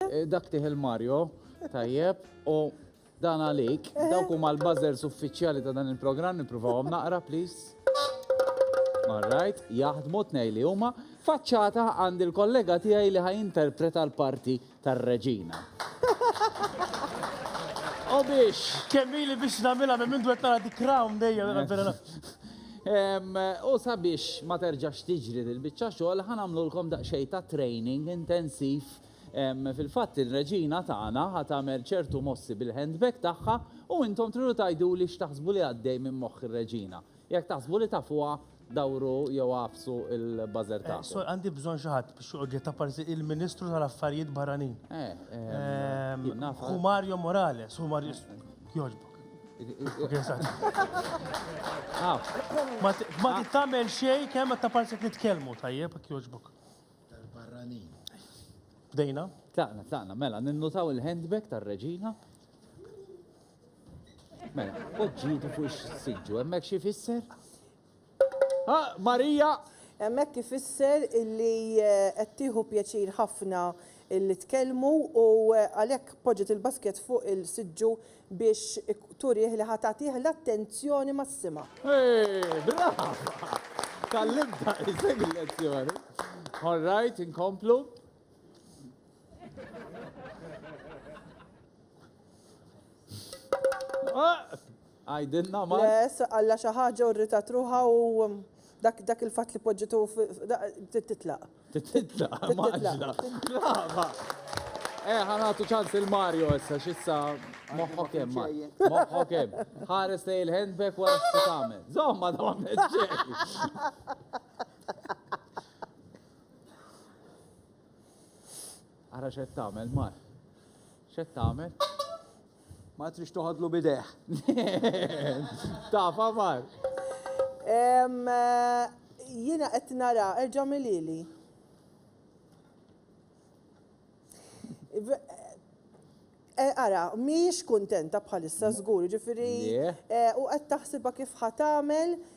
Eh, dak tih il-Mario, tajjeb, u dan għalik, dawk huma l-buzzers uffiċjali ta' dan il-programm nippruvawhom naqra, please. Alright, jaħdmu tnej li huma. Faċċata għand il-kollega tiegħi li ħajinterpreta l-parti tar-reġina. U biex. Kemmili biex namila minn mindu għettara di crown dejja. U sabiex ma terġax tiġri dil-bicċa xogħol ħanamlu lkom daqsxejn ta' training intensiv Fil-fatt ir-Reġina tagħna ħa tagħmel ċertu mossi bil-handbag tagħha u intom tridu tgħiduli x'taħsbu li għaddej minn moħħ ir-Reġina. Jekk taħsbu li tafuha, dawru jew agħfsu l-buzzer tagħkom. Sorry, għandi bżonn xi ħadd biex joqgħod jgħid apparti il-Ministru tal-Affarijiet Barranin. Hu Mario Morales, hu Mario. Jogħġbok. Ma tagħmel xejn kemm apparti qed nitkellmu, tajjeb, jogħġbok. tal-barranin. Bdejna? Tlaqna, tlaqna, mela, ninnutaw il-handbag tar-reġina. Mela, poġġitu fuq ix-siġġu, hemmhekk xi fisser? Ah, Marija! Hemmhekk ifisser illi eh, qed tieħu pjaċir ħafna illi tkellmu u eh, għalhekk poġġet il-basket fuq il-siġġu biex turih li ħa tagħtih l-attenzjoni massima. Eeh, brava! Tgħallimtha isek il-lezzjoni. All right, inkomplu. Għajdilna ma. Les, għalla xi ħaġa u rritat ruħa u dak il-fatt li poġġitu titlaq. Titla, maġla. Brava. Eh, ħanatu ċans il-Mario issa, xissa. Moħħok hemm, Mario. Moħħok hemm. Ħares lej il-handbag wara xi tagħmel. Żomma da ma Ara xed tagħmel, Mar. Xed tagħmel? Ma tridx toħodlu b'idejh. Taf aħbar. Jiena qed nara, erġa' għamilhieli. Ara, mhijiex kuntenta bħalissa żgur, jiġifieri u qed taħsibha kif ħa tagħmel